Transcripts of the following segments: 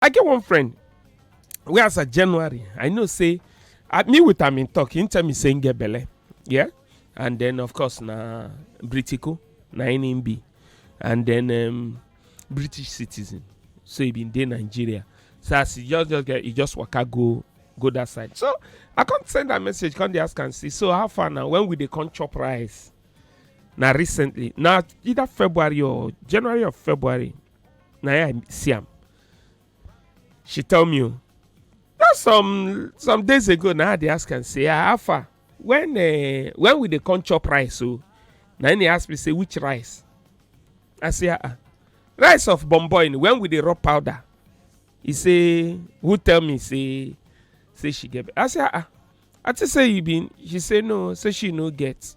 i get one friend wey as a january i know say i me with am in talk him tell me say him get belle yeah and then of course na britico na him him be and then um, british citizen so he bin dey nigeria so as he just just get he just waka go go that side so i come send am message come dey ask am say so how far na when we dey come chop rice na recently na either february or january or february na i see am she tell me o na some some days ago na i dey ask am say ah how far when uh, when we dey come chop rice o na him dey ask me say which rice i say ah ah rice of bomboin when we dey rub powder he say who tell me say say she get i say ah ah i think say you been she say no say she no get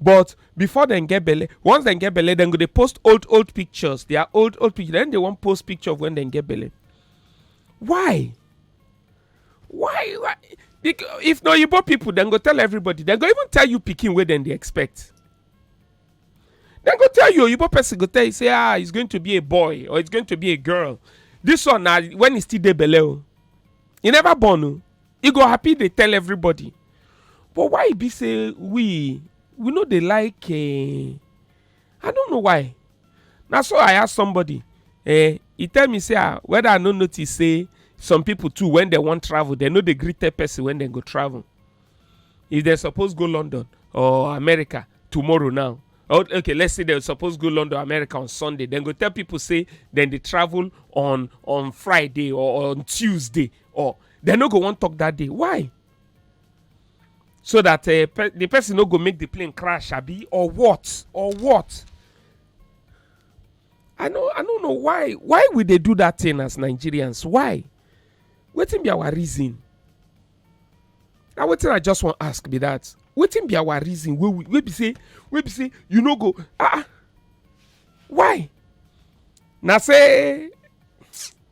but before dem get belle once dem get belle dem go dey post old old pictures their old old picture then they wan post picture of when dem get belle why why why Bec- if na oyibo people dem go tell everybody dem go even tell you pikin wey dem dey expect dem go tell you oyibo person go tell you say ah it's going to be a boy or it's going to be a girl this one na when e still dey belle o e never born o e go happy dey tell everybody but why e be say we we no dey like eh, i don't know why na so i ask somebody eh, e tell me say ah whether i no notice say some people too when dem wan travel dem no dey gree tell person when dem go travel if dem suppose go london or america tomorrow now or okay let's say dem suppose go london america on sunday dem go tell people say dem dey travel on on friday or on tuesday or dem no go wan talk that day why so that uh, pe- the person no go make the plane crash abi or what or what i no i no know why why we dey do that thing as nigerians why wetin be our reason na wetin i just wan ask be that wetin be our reason wey we wey be say wey be say you no go ah ah why na say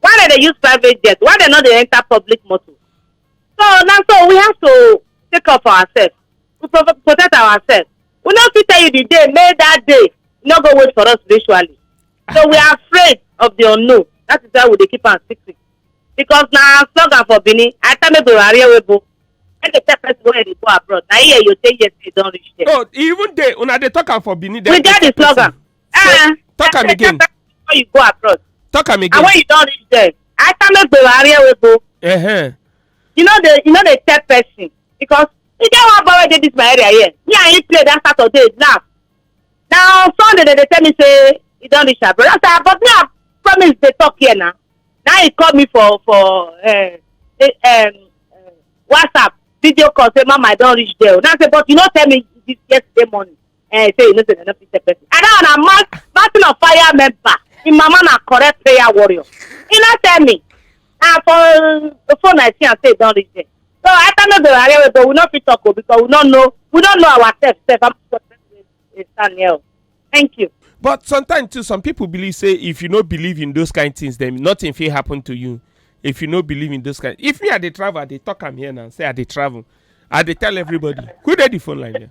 why dem dey use private jet why dem no dey enter public motor so na so we have to take care of ourselves we pro protect ourselves we no fit tell you the day may that day no go wait for us spiritually so we are afraid of the unknown that is why we dey keep am secret because na slogan for benin i tell make we rari ewebo make dey tell person wey dey go abroad na here you take yes you don reach there. oh e even dey una dey talk am for benin. dem we dey get the tell person. slogan Eh, talk am again before you go abroad talk am and again when you don reach there after make gbero arie wey go uh-huh. you no dey you no dey tell person because e get one boy wey dey this my area here me and him play that saturday now na on sunday dem dey tell me say e don reach abroad i say but me i promise dey talk here na na he call me for for uh, the, um, uh, whatsapp video call say mama i don reach there o na say but you no tell me this yesterday morning eh, say you no say dem no fit tell person. I don na man battle of fire member. Im mama na correct prayer warrior. He no tell me. Na for the phone I see am say e don reach there. So after no go arrange we go we no fit talk o because we no know we no know ourselves sef how much person dey stand here o. Thank you. but sometimes too some people believe say if you no believe in those kind things then nothing fit happen to you if you no believe in those kind if me i dey travel i dey talk am here now say i dey travel i dey tell everybody who dey the phone line here.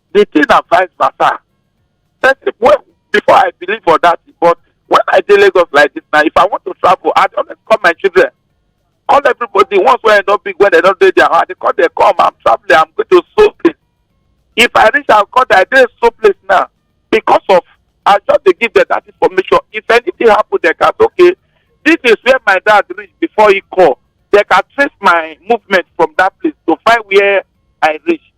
the thing na vice versa person wey before i believe for that thing but when i dey lagos like this now if i want to travel i dey always call my children call everybody once wey i don big when i don dey their house i dey call them come i'm traveling i'm going to so place if i reach out call them i dey so place now because of i just dey give them that information if anything happen they can say okay this is where my dad reach before he call they can trace my movement from that place to find where i reach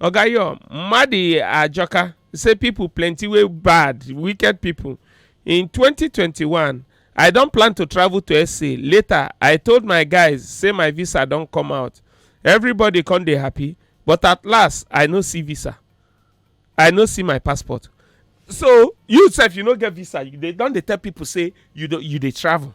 oga yo madi ajoka say pipo plenty wey bad wicked pipo in 2021 i don plan to travel to sa later i told my guys say my visa don come out everybody come dey happy but at last i no see visa i no see my passport so you sef you no get visa you dey don dey tell pipo say you don- you dey travel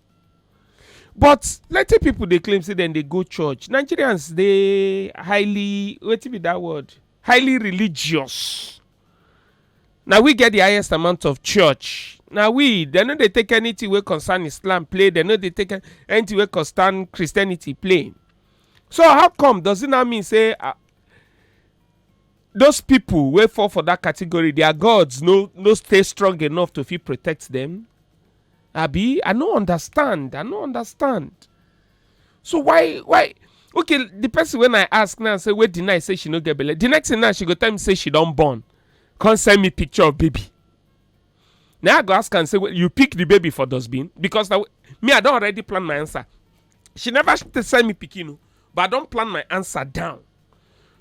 but plenty people dey claim say dem dey go church nigerians dey highly wetin be that word highly religious na we get the highest amount of church na we dem no dey take anything wey concern islam play dem no dey take an- anything wey concern christianity play so how come does it now mean say ah, those people wey fall for that category their gods no no stay strong enough to fit protect them abi i no understand i no understand so why why okay the person when i ask now say wey deny say she no get belle the next thing now she go tell me say she don born come send me picture of baby now i go ask am say "Wait, you pick the baby for dustbin because na me i don already plan my answer she never sh- send me pikin o but i don plan my answer down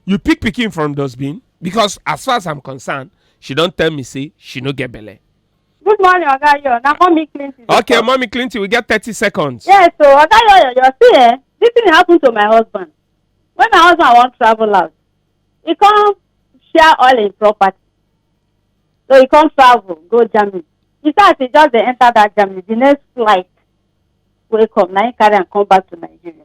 you pick pikin from dustbin because as far as i'm concerned she don tell me say she no get belle. good morning oga yo na mommy clinton. okay talk. mommy clinton we get thirty seconds. yes so oga yo yo yo see eh this thing happen to my husband when my husband wan travel out he come share all him property so he come travel go germany he say as he just dey enter that germany the next flight wey come na him carry am come back to nigeria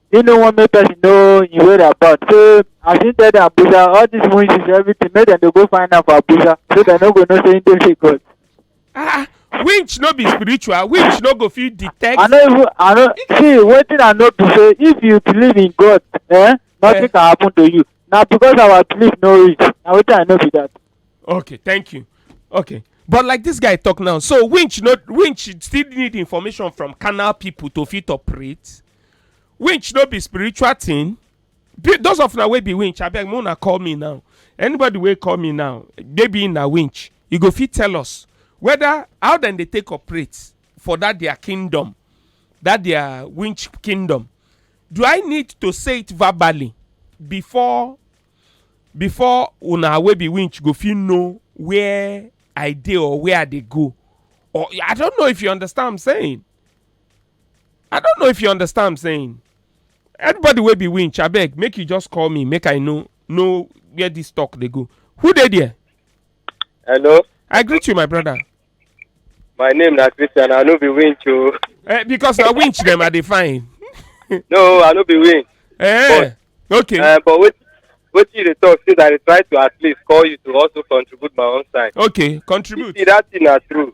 he no wan make person know him whereabout so as he tell dem abuja all these witches everything make dem dey go find am for abuja so dem no go know say he dey fake god ah winch no be spiritual winch no go fit detect. i no even i no see wetin i know be say if you believe in god eh nothing Yeah. can happen to you na because our belief no reach na wetin i know be that okay thank you okay but like this guy talk now so winch no winch still need information from canal people to fit operate. winch no be spiritual thing Be- those of una wey be winch abeg make una call me now anybody wey call me now maybe na winch you go fit tell us whether how dem dey take operate for that their kingdom that their winch kingdom do i need to say it verbally before before una wey be winch go fit know where i dey or where i dey go or i don't know if you understand what i'm saying i don't know if you understand i'm saying anybody wey be winch abeg make you just call me make i know know where this talk dey go who dey there Hello, i greet you my brother my name na Christian. I no be winch o. eh, because na winch dem i dey find No, I no be winch. eh, okay Uh, but wait, wetin you dey talk since I dey try to at least call you to also contribute my own side. okay You contribute see that thing na true.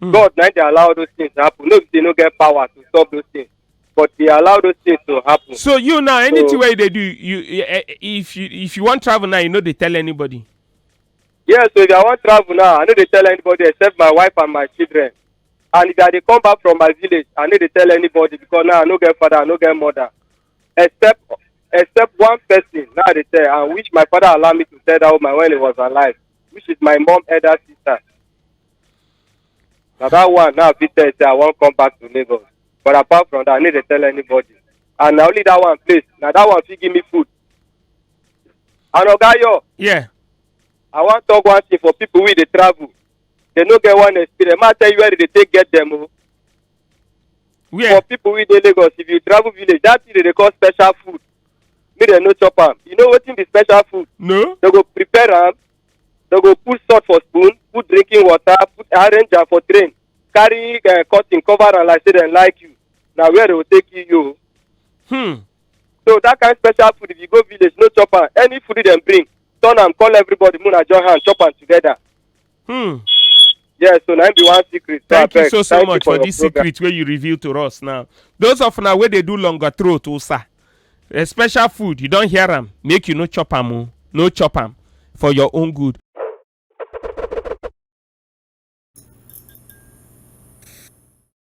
Mm. God na dey allow those things happen. No be say no get power to stop those things, but dey allow those things to happen. So you now anything So- wey you dey do, you eh, eh, if you if you wan travel now, you no dey tell anybody. Yeah, so if I wan travel now, I no dey tell anybody except my wife and my children. And if I dey come back from my village, I no dey tell anybody because now I no get father, I no get mother. Except except one person now I dey tell and which my father allow me to tell that woman when he was alive, which is my mom elder sister. na that one now i fit tell you say i wan come back to lagos but apart from that i no dey tell anybody and na only that one place na that one fit give me food and oga yo Yeah. i wan talk one thing for people wey dey travel they no get one experience ma tell you where they dey take get them o Where? for people wey dey lagos if you travel village that thing they dey call special food make dem no chop am you know wetin be special food No. they go prepare am dem go put salt for spoon put drinking water put arrange am for train carry uh, cotton cover am like say dem like you na where dem go take kill you o. Hmm. so that kind special food if you go village no chop am any food dem bring turn am call everybody make una join hand chop am together. Hmm. yes so na im be one secret so thank you abeg so so thank you much for your this program. secret wey you reveal to us now those of una wey dey do longer throat osa a special food you don hear am make you no chop am o no chop am for your own good.